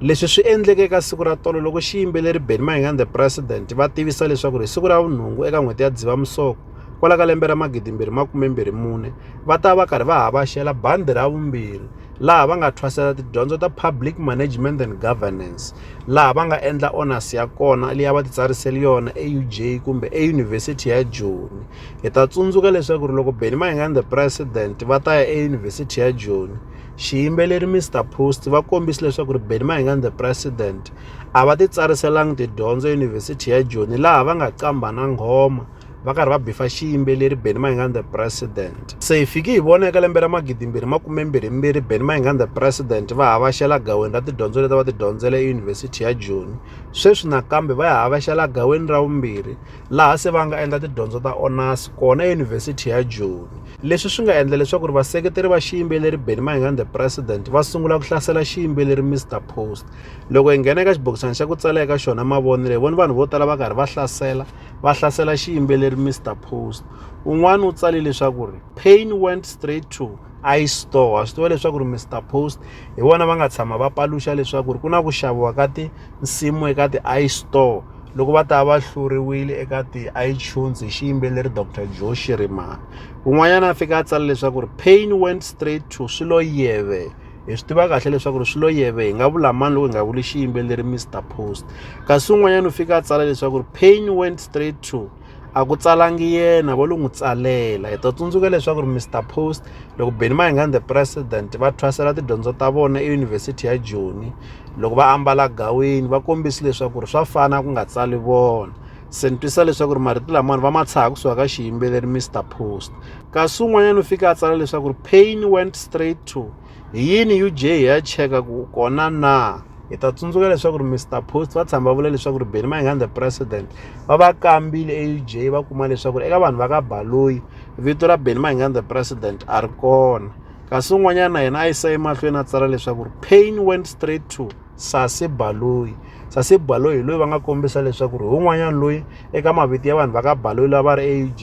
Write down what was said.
leswi swi endleke eka siku ra tolo loko xiyimbeleri benny mayengani the president va tivisa leswaku ri siku ra vunhungu eka n'hweti ya dzivamusoko kwala ka lembe ra magidimbirhi makumembirhi mune va ta va karhi va havaxela bandi ra vumbirhi laha va nga thwasela tidyondzo ta public management and governance laha va nga endla onasi ya kona leyi va titsarisele yona euj kumbe eyunivhesiti ya joni hi ta tsundzuka leswaku ri loko benny mayengani the president va ta ya eyunivhesiti ya joni Xiyimbeleri Mister Post va kombise leswaku ri Benny Mayengani the President a va titsariselanga tidyondzo eYunivhesiti ya Joni laha va nga qambha na nghoma va karhi va bifa xiyimbeleri Benny Mayengani the President. Se hi fiki hi vona eka lembe ra magidimbirhi makumembirhimbirhi Benny Mayengani the President va havashela gaweni ra tidyondzo leti va ti dyondzela eYunivhesiti ya Joni. Sweswi nakambe va ya havashela gaweni ra vumbirhi laha se va nga endla tidyondzo ta honors kona eYunivhesiti ya Joni. leswi swi nga endla leswaku ri vaseketeri va xiyimbeleri Benny Mayengani the president va sungula ku hlasela xiyimbeleri Mr Post loko hi nghena eka xibokisana xa ku tsala eka xona mavonelo hi vona vanhu vo tala va karhi va hlasela va hlasela xiyimbeleri Mr Post un'wana u tsale leswaku ri pain went straight to istore a swi tiva leswaku ri mr post hi vona va nga tshama va paluxa leswaku ri ku na ku xaviwa ka tinsimu eka ti-istore loko va ta va hluriwile eka ti-itunes hi xiyimbeleri dr joe shirimani un'wanyana a fika a tsala leswaku ri pain went straight to swi lo yeve hi swi tiva kahle leswaku ri swi lo yeve hi nga vula mani loko hi nga vuli xiyimbeleri mr post kasi un'wanyana u fika a tsala leswaku ri pain went straight to a ku tsalangi yena vo lo n'wi tsalela hi ta tsundzuka leswaku ri mr post loko beni mayengani the president va thwasela tidyondzo ta vona eyunivhesiti ya joni loko va ambala gawini va kombisi leswaku ri swa fana ku nga tsali vona se ni twisa leswaku ri marito lamawani va ma tshaha kusuka ka xiyimbeleri mr post kasi un'wanyana u fike a tsala leswaku ri pain went straight to Hi yini UJ hi ya cheka ku kona na hi ta tsundzuka leswaku ri Mr Post va tshama va vula leswaku ri Benny Mayengani the president va va kambile eUJ va kuma leswaku ri eka vanhu va ka Baloyi vito ra Benny Mayengani the president a ri kona kasi un'wanyana yena a yisa emahlweni a tsala leswaku ri pain went straight to sase baloyi sase baloyi hi loyi va nga kombisa leswaku ri hi un'wanyana loyi eka mavito ya vanhu va ka baloyi lava ri auj